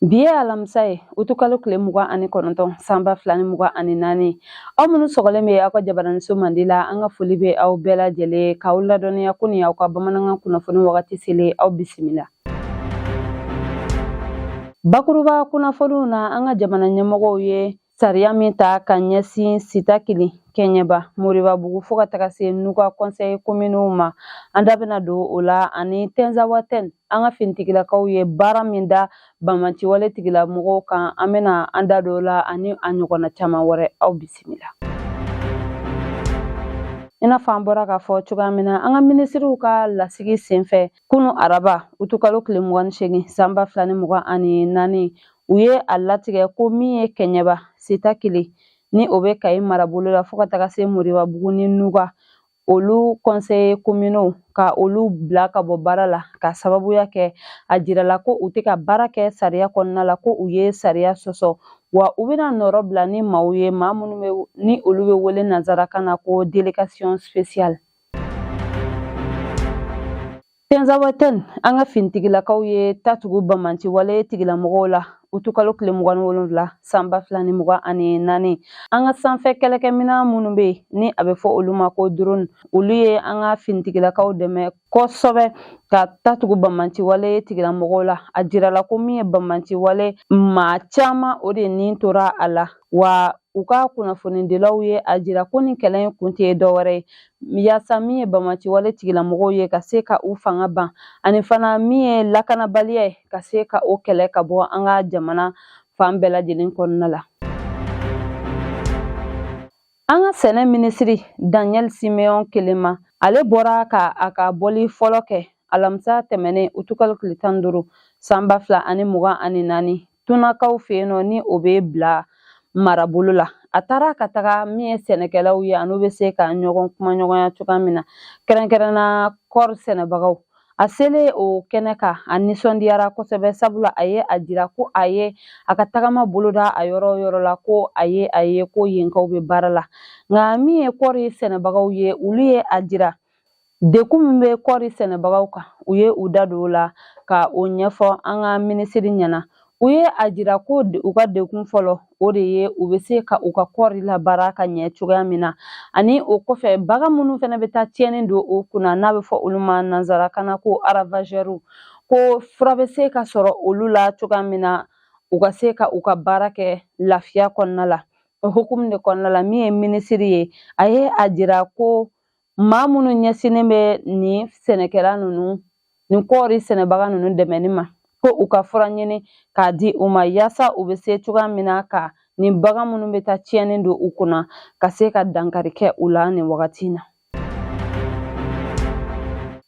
bi ye alamisa ye utukalo tile mugan ani kɔnɔntɔn sanba fila ni mugan ani naani aw minnu sɔgɔlen bɛ aw ka jabaraninso mandi la an ka foli bɛ aw bɛɛ lajɛlen k'aw ladɔnniya ko nin y'aw ka bamanankan kunnafoni wagati selen aw bisimila Bakuruba kunnafoniw na an ka jamana ɲɛmɔgɔw ye sariya min ta ka ɲɛsin sitakili kɛɲɛba moribabugu fo ka taga se nuga conseil communaux ma an da bɛna don o la ani tɛnzawatɛn an ka finitigilakaw ye baara min da banbaanciwale tigilamɔgɔw kan an bɛna an da don o la ani a ɲɔgɔnna caman wɛrɛ aw bisimila i n'a fɔ an bɔra k'a fɔ cogoya min na an ka minisiriw ka lasigi senfɛ kunu araba utukalo tile mugan ni segin sanba fila ni mugan ani naani u ye a latigɛ ko min ye kɛɲɛba sitakili ni o bɛ kayi marabolo la fo ka taga se moribabugu ni nuga olu conseil communaux ka olu bila ka bɔ baara la ka sababuya kɛ a jirala ko u tɛ ka baara kɛ sariya kɔnɔna la ko u ye sariya sɔsɔ wa u bɛna nɔrɔ bila ni maaw ye maa minnu ni olu bɛ wele nansarakan na ko delegation speciale Tɛnzawatɛn an ka finitigilakaw ye ta tugu banbaanciwale tigilamɔgɔw la utukalo tile mugan ni wolonwula sanba fila ni mugan ani naani an ka sanfɛ kɛlɛkɛminɛn minnu bɛ yen ni a bɛ fɔ olu ma ko drone olu ye an ka finitigilakaw dɛmɛ kosɛbɛ ka ta tugu banbaanciwale tigilamɔgɔw la a jirala ko min ye banbaanciwale maa caman o de ni tora a la wa u ka kunnafonidilaw ye a jira ko nin kɛlɛ in kun tɛ dɔwɛrɛ ye yaasa min ye banbaanciwale tigilamɔgɔw ye ka se ka u fanga ban ani fana min ye lakanabaliya ye ka se ka o kɛlɛ ka bɔ an ka jamana fan bɛɛ lajɛlen kɔnɔna la an ka sɛnɛ minisiri daniel simeon kelema ale bɔra ka a ka bɔli fɔlɔ kɛ alamisa tɛmɛnen utukalo tile tan ni duuru sanba fila ani mugan ani naani tunakaw fɛ yen nɔ ni o bɛ bila marabolo la a taara ka taga min ye sɛnɛkɛlaw ye an'u bɛ se ka ɲɔgɔn kumaɲɔgɔnya cogoya min na kɛrɛnkɛrɛnna kɔɔri sɛnɛbagaw a selen o kɛnɛ kan a nisɔndiyara kosɛbɛ sabula a ye a jira ko a ye a ka tagama boloda a yɔrɔ yɔrɔ la ko a ye a ye ko yenkaw bɛ baara la nka min ye kɔɔri sɛnɛbagaw ye olu ye a jira Dekun min bɛ kɔɔri sɛnɛbagaw kan u ye u da don o la ka o ɲɛfɔ an ka minisiri ɲɛna u ye a jira ko u ka dekun fɔlɔ o de ye u bɛ se ka u ka kɔɔri labaara ka ɲɛ cogoya min na ani o kɔfɛ bagan minnu fana bɛ taa tiɲɛni don o kunna n'a bɛ fɔ olu ma nanzarakan na ko aravazɛriw ko fura bɛ se ka sɔrɔ olu la cogoya min na u ka se ka u ka baara kɛ lafiya kɔnɔna la o hukumu de kɔnɔna la min ye minisiri ye a ye a jira ko maa minnu ɲɛsinnen bɛ nin sɛnɛkɛla ninnu nin kɔɔri sɛnɛbaga ninnu dɛmɛni ma ko u ka fura ɲini k'a di u ma yaasa u bɛ se cogoya min na ka nin bagan minnu bɛ taa tiɲɛni don u kunna ka se ka dankari kɛ u la nin wagati na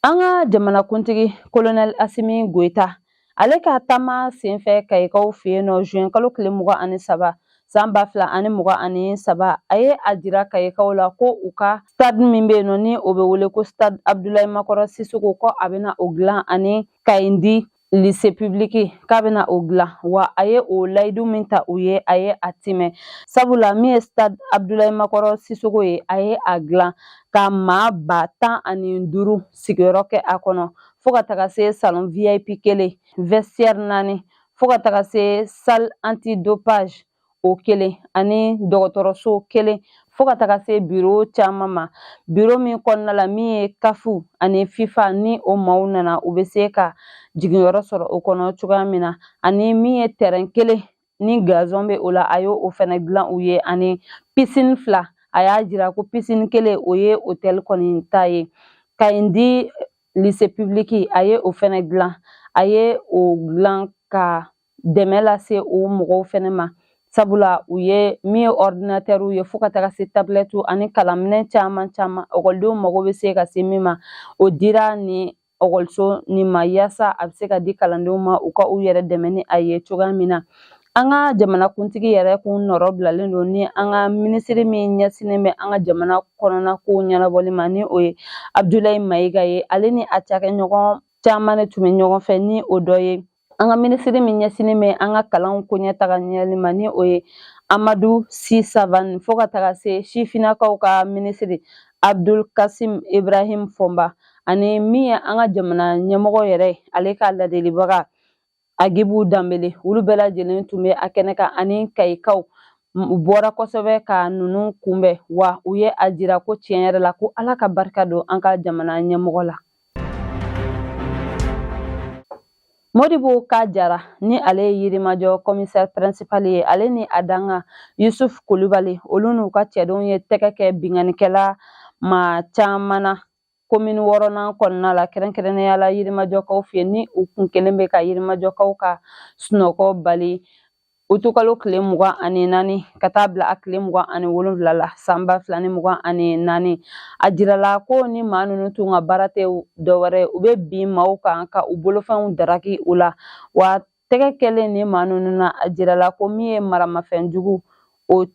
an ka jamanakuntigi kolonɛli asimi goyita ale ka taama senfɛ kayikaw fɛ yen nɔ zuwɛn kalo tile mugan ani saba san ba fila ani mugan ani saba a ye a jira kayikaw la ko u ka stade min bɛ yen nɔ ni o bɛ wele ko stade abudulayi makɔrɔ sisoko ko a bɛna o dilan ani kayindi lise pibiliki k'a bɛna o dilan wa a ye o layidu min ta u ye a ye a tiimɛ sabula min ye stade abudulayi makɔrɔ sisoko ye a ye a dilan ka maa ba tan ani duuru sigiyɔrɔ kɛ a kɔnɔ fo ka taga se salon vip kelen vestiaire naani fo ka taga se salle anti dopage o kelen ani dɔgɔtɔrɔso kelen fo ka taga se biro caman ma biro min kɔnɔna la min ye kafu ani fifa ni o maaw nana u bɛ se ka jiginyɔrɔ sɔrɔ o kɔnɔ cogoya min na ani min ye tɛrɛn kelen ni gazɔn bɛ o la a ye o fɛnɛ dilan u ye ani pisini fila a y'a jira ko pisini kelen o ye otɛli kɔni ta ye kayindi lise pibiliki a ye o fɛnɛ dilan a ye o dilan ka dɛmɛ lase o mɔgɔw fɛnɛ ma sabula u ye min ye ɔridinatɛriw ye fo ka taga se tabilɛtiw ani kalanminɛn caman caman ekɔlidenw mago bɛ se ka se min ma o dira nin ekɔliso nin ma yaasa a bɛ se ka di kalandenw ma u ka u yɛrɛ dɛmɛ ni a ye cogoya min na an ka jamanakuntigi yɛrɛ kun nɔrɔ bilalen don ni an ka minisiri min ɲɛsinnen bɛ an ka jamana kɔnɔna kow ɲɛnabɔli ma ni o ye abudulayi mayiga ye ale ni a cakɛɲɔgɔn caman de tun bɛ ɲɔgɔn fɛ ni o dɔ ye an ka minisiri min ɲɛsinnen bɛ an ka kalanw ko ɲɛtaga ɲɛli ma ni o ye amadu si savane fo ka taga se sifinnakaw ka minisiri abdul kasim ibrahim fɔnba ani min ye an ka jamana ɲɛmɔgɔ yɛrɛ ale ka ladelibaga agibu danbele olu bɛɛ lajɛlen tun bɛ a kɛnɛ kan ani kayikaw u bɔra kosɛbɛ ka ninnu kunbɛn wa u ye a jira ko tiɲɛ yɛrɛ la ko ala ka barika don an ka jamana ɲɛmɔgɔ la Modibo ka jara ni ale ye yirimajɔ kɔmisɛri pɛrɛnsipali ye ale ni a dankan yusuf kulibali olu n'u ka cɛdenw ye tɛgɛ kɛ binkannikɛla maa caman na komini wɔɔrɔnan kɔnɔna la kɛrɛnkɛrɛnnenya la yirimajɔkaw fɛ ni u tun kɛlen bɛ ka yirimajɔkaw ka sunɔgɔ bali utukalo tile mugan ani naani ka taa bila a tile mugan ani wolonwula la san ba fila ni mugan ani naani a jirala ko nin maa ninnu tun ka baara tɛ dɔwɛrɛ u bɛ bin maaw kan ka u bolofɛnw daraki u la wa tɛgɛ kɛlen nin maa ninnu na a jirala ko min ye maramafɛn jugu o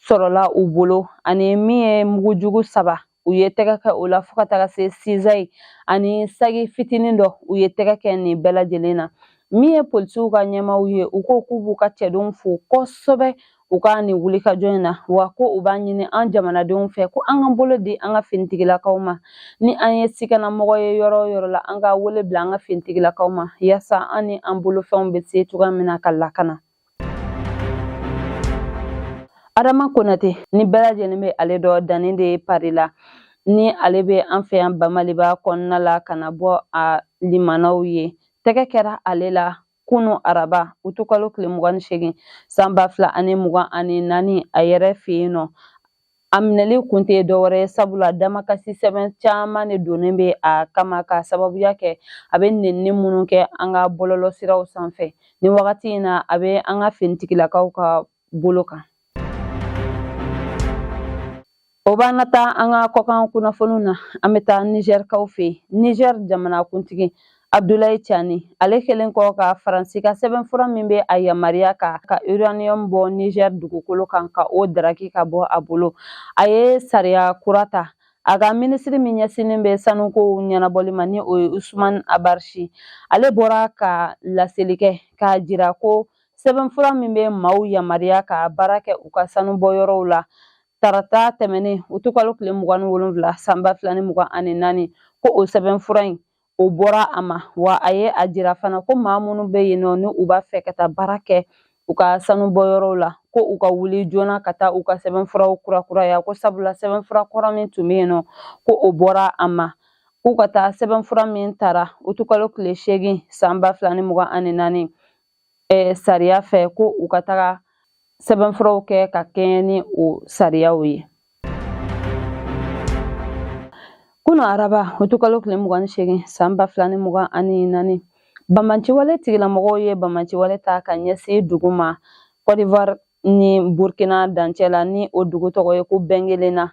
sɔrɔla u bolo ani min ye mugu jugu saba u ye tɛgɛ kɛ o la fo ka taga se sizayi ani sagi fitinin dɔ u ye tɛgɛ kɛ nin bɛɛ lajɛlen na min ye polisiw ka ɲɛmaaw ye u ko k'u b'u ka cɛdenw fo kosɛbɛ u ka nin wulikajɔ in na wa ko u b'a ɲini an jamanadenw fɛ ko an ka bolo di an ka finitigilakaw ma ni an ye sikanamɔgɔ ye yɔrɔ o yɔrɔ la an ka wele bila an ka finitigilakaw ma yaasa an ni an bolofɛnw bɛ se cogoya min na ka lakana adama konate ni bɛɛ lajɛlen bɛ ale dɔn dani de pari la ni ale bɛ an fɛ yan bamaliba kɔnɔna la ka na bɔ a limanaw ye tɛgɛ kɛra ale la kunu araba utukalo tile mugan ni segin san ba fila ani mugan ani naani a yɛrɛ fɛ yen nɔ A minɛli kun tɛ dɔwɛrɛ ye sabula damakasi sɛbɛn caman de donnen bɛ a kama ka sababuya kɛ a bɛ nenni minnu kɛ an ka bɔlɔlɔsiraw sanfɛ nin wagati in na a bɛ an ka finitigilakaw ka bolo kan o b'an nataa an ka kɔkan kunnafoniw na an bɛ taa nizɛrikaw fɛ yen nizɛri jamanakuntigi Abdoulaye Tiani ale kɛlen kɔ ka Faransi ka sɛbɛnfura min bɛ a yamaruya ka ka uranium bɔ Niger dugukolo kan ka o daraki ka bɔ a bolo a ye sariya kura ta a ka minisiri min ɲɛsinnen bɛ sanukow ɲɛnabɔli ma ni o ye Ousmane Abarchi ale bɔra ka laseli kɛ k'a jira ko sɛbɛnfura min bɛ maaw yamaruya ka baara kɛ u ka sanubɔyɔrɔw la tarata tɛmɛnen utukalo tile mugan ni wolonwula san ba fila ni mugan ani naani ko o sɛbɛnfura in o bɔra a ma wa a ye a jira fana ko maa minnu bɛ yen nɔ ni u b'a fɛ ka taa baara kɛ u ka sanubɔ yɔrɔw la ko u ka wuli joona ka taa u ka sɛbɛnfuraw kurakuraya ko sabula sɛbɛnfura kɔrɔ min tun bɛ yen nɔ ko o bɔra a ma k'u ka taa sɛbɛnfura min tara utukalo tile seegin san ba fila ni mugan ani naani eh, sariya fɛ ko u ka taga sɛbɛnfuraw kɛ ka kɛɲɛ ni o sariyaw ye kunu araba utukalo tile mugan ni segin san ba fila ni mugan ani naani banbaanciwale tigilamɔgɔw ye banbaanciwale ta ka ɲɛsin dugu ma kɔdiwari ni burkina dancɛ la ni o dugu tɔgɔ ye ko bɛngelenna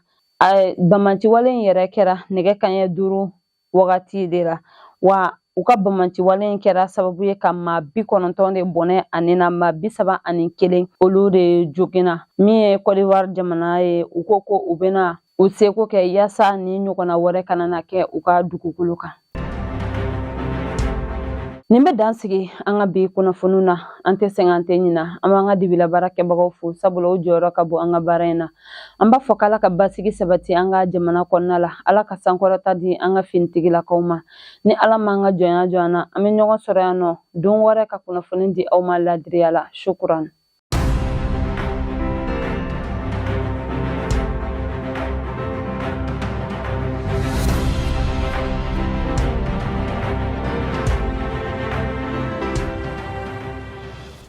banbaanciwale in yɛrɛ kɛra nɛgɛ kaɲɛ duuru wagati de la wa u ka banbaanciwale in kɛra sababu ye ka maa bi kɔnɔntɔn de bɔnɛ a ni na maa bi saba ani kelen olu de joginna min ye kɔdiwari jamana ye u ko ko u bɛna u seko kɛ yaasa nin ɲɔgɔnna wɛrɛ kana na kɛ u ka dugukolo kan nin bɛ dan sigi an ka bi kunnafoniw na an tɛ sɛgɛn an tɛ ɲina an b'an ka dibi la baarakɛbagaw fo sabula u jɔyɔrɔ ka bon an ka baara in na an b'a fɔ k'ala ka basigi sabati an ka jamana kɔnɔna la ala ka sankɔrɔta di an ka finitigilakaw ma ni ala m'an ka jɔnya jɔ an na an bɛ ɲɔgɔn sɔrɔ yan nɔ don wɛrɛ ka kunnafoni di aw ma ladiriya la sukuran